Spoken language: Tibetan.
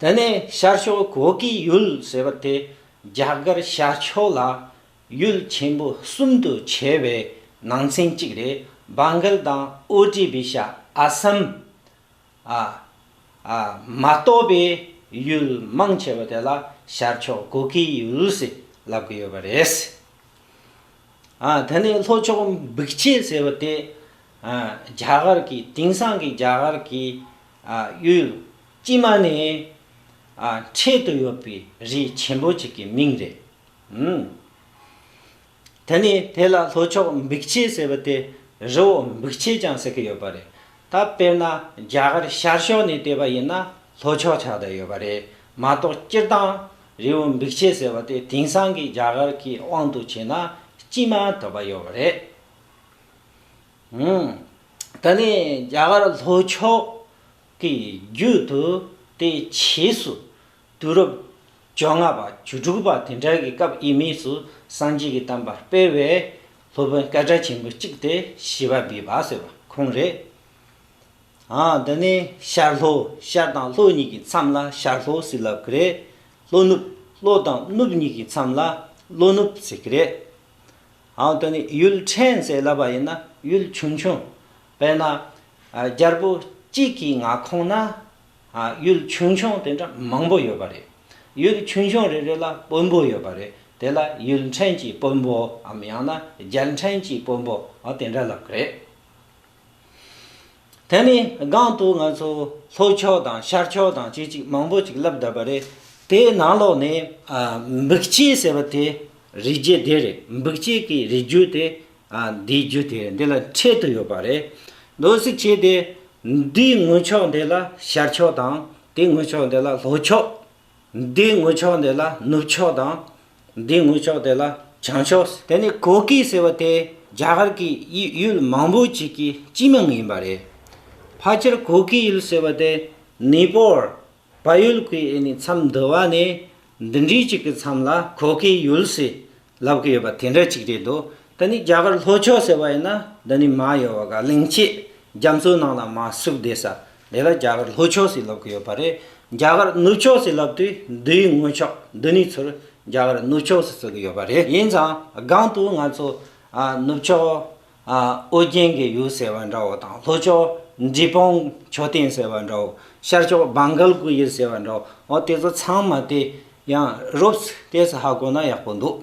དེ་ནས་ཤར་ཕྱོགས་གོ་གི་ཡུལ་ཟེར་བ་དེ་རྒྱ་གར་ཤར་ཕྱོགས་ལ་ཡུལ་ཆེན་པོ་གསུམ་དུ་ཕྱེ་བའི་ནང་ཚན་གཅིག་རེད Bangal དང Odisha Assam ཨ་ཨ་མ་གཏོགས་པའི་ཡུལ་མང་ཆེ་བ་དེ་ལ་ཤར་ཕྱོགས་གོ་གི་ཡུལ་ཟེར་ལབ་གི་ཡོད་པ་རེད། ཨ་དེ་ནས་ལྷོ་ཕྱོགས་འབིག་ཆེ་ཟེར་བ་དེ་ཨ་རྒྱ་གར་གི་དེང་སང་གི་རྒྱ་གར་གི་ཨ་ཡུལ། སྤྱི་མ་ནི། ཆེད་དུ་ཡོད་པའི་རི་ཆེན་པོ་གཅིག་གི་མིང་རེད། དེ་ནས་དེ་ལ་ལྷོ་ཕྱོགས་འབིགས་བྱེད་ཟེར་བ་དེ་རི་བོ་འབིགས་བྱེད་ཀྱང་ཟེར་གྱི་ཡོད་པ་རེད། ད་དཔེར་ན་རྒྱ་གར་ཤར་ཕྱོགས་ནས་བལྟས་པ་ཡིན་ན་ལྷོ་ཕྱོགས་ཆགས་བསྡད་ཡོད་པ་རེད་མ་གཏོགས་སྤྱིར་བཏང་རི་བོ་འབིགས་བྱེད་ཟེར་བ་དེ་དེང་སང་གི་རྒྱ་གར་གྱི་དབང་དུ་བྱས་ན་སྤྱི་མ་དོད་པ་ཡོད་པ་རེད། ད་ནི་རྒྱ་གར་ལྷོ་ཕྱོགས་དེའི་རྒྱུད་དུ་དེའི་བྱེས་སུ་དུས་རབས་བཅོ་ལྔ་པ་བཅུ་དྲུག་པ་དེ་འདྲ་གི་སྐབས་དབྱིན་མིས་སུ་སངས་རྒྱས་ཀྱི་གཏམ་པར་སྤེལ་བའི་སློབ་དཔོན་སྐལ་བཀྲ་ཆེན་པོ་གཅིག་སྟེ་ཞི་བ་བི་བ་ཟེར་བ་ཁོང་རེད། འདི་ནི་ཤར་ལྷོ་ཤར་དང་ལྷོ་གཉིས་ཀྱི་མཚམས་ལ་ཤར་ལྷོ་ཟེར་ལབ་ཀི་རེད། ལྷོ་ནུབ་ལྷོ་དང་ནུབ་གཉིས་ཀྱི་མཚམས་ལ་ལྷོ་ནུབ་ཟེར་གི་རེད། འདི་ནི་ཡུལ་ཕྲན་ཟེར་ལབ་པ་ཡིན་ན་ཡུལ་ཆུང་ཆུང། དཔེར་ན། རྒྱལ་པོ་གཅིག་གི་མངའ་ཁོངས་ན་ཡུལ་ཆུང་ཆུང་དེ་འདྲ་མང་པོ་ཡོད་པ་རེད། ཡུལ་ཆུང་ཆུང་རེ་རེ་ལ་དཔོན་པོ་ཡོད་པ་རེད། དེ་ལ་ཡུལ་འཕྲེང་གི་དཔོན་པོའམ་ཡང་ན་རྒྱལ་འཕྲེང་གི་དཔོན་པོ་དེ་འདྲ་ལབ་ཀི་རེད། དེ་ནི་སྒང་དུ་ང་ཚོ་ལྷོ་ཕྱོགས་དང་ཤར་ཕྱོགས་དང་ཅི་ཅིག་མང་པོ་ཅིག་ལབ་གདབ་པ་རེད། དེའི་ནང་ལོགས་ནས། འབིགས་བྱེད་ཟེར་བ་དེ་རི་རྒྱུད་དེ་རེད། འབིགས་བྱེད་ཀྱི་རི་རྒྱུད་དེ་འདིའི་རྒྱུ་དེ་འདི་ལ་འཕྲད་དུ་ཡོད་པ་རེད། ལོ་གཟིགས་བྱས་ཏེ། འདིའི་ངོས་ཕྱོགས་འདི་ལ་ཤར་ཕྱོགས་དང། དེའི་ངོས་ཕྱོགས་འདི་ལ་ལྷོ་ཕྱོགས། འདིའི་ངོས་ཕྱོགས་འདི་ལ་ནུབ་ཕྱོགས་དང། འདིའི་ངོས་ཕྱོགས་འདི་ལ་བྱང་ཕྱོགས། དེ་ནི་གོ་ཀི་ཟེར་བ་དེ་རྒྱ་གར་གྱི་ཡུལ་མང་པོ་ཅིག་གི་སྤྱི་མིང་ཡིན་པ་རེད། ཕལ་ཆེར་གོ་ཀི་ཡུལ་ཟེར་བ་དེ་ནི་པོར་བལ་ཡུལ་གྱི་ཨེ་ནི་མཚམས་འདུལ་བ་ནི་འདི་འདྲའི་གཅིག་གི་མཚམས་ལ་གོ་གི་ཡུལ་སི་ལབ་གི་ཡོད་པ་དེ་འདྲ་གཅིག་རེད་འདུག་ད་ནི་རྒྱ་གར་ལྷོ་ཕྱོགས་ཟེར་བ་ཡིན་ན་འདི་ནི་མ་ཡོད་བ་ག་གླིང་ཆེས་རྒྱ་མཚོའི་ནང་ལ་མ་ཟུག་བསྡད་ས་དེ་ལ་རྒྱ་གར་ལྷོ་ཕྱོགས་སི་ལབ་གི་ཡོད་པ་རེད་རྒྱ་གར་ནུབ་ཕྱོགས་སི་ལབ་དུས་འདིའི་ངོས་ཕྱོགས་འདི་ནི་ཚུར་རྒྱ་གར་ནུབ་ཕྱོགས་སི་བརྩི་གི་ཡོད་པ་རེད་ཡིན་ཙང་སྒང་དུ་ང་ཚོ་ནུབ་ཕྱོགས་ཨོ་རྒྱན་གྱི་ཡུལ་ཟེར་བ་འདྲ་བོ་དང་ལྷོ་ཕྱོགས་འབྲི་སྤུངས་མཆོད་རྟེན་ཟེར་བ་འདྲ་བོ་ཤར་ཕྱོགས་བང་གལ་སྐུ་ཡི་ཟེར་བ་འདྲ་བོ་དེ་ཚོ་ཚང་མ་དེ་ཡང་རོབ་སི་ཏེས་ཧ་གོ་ན་ཡག་པོ་འདུག།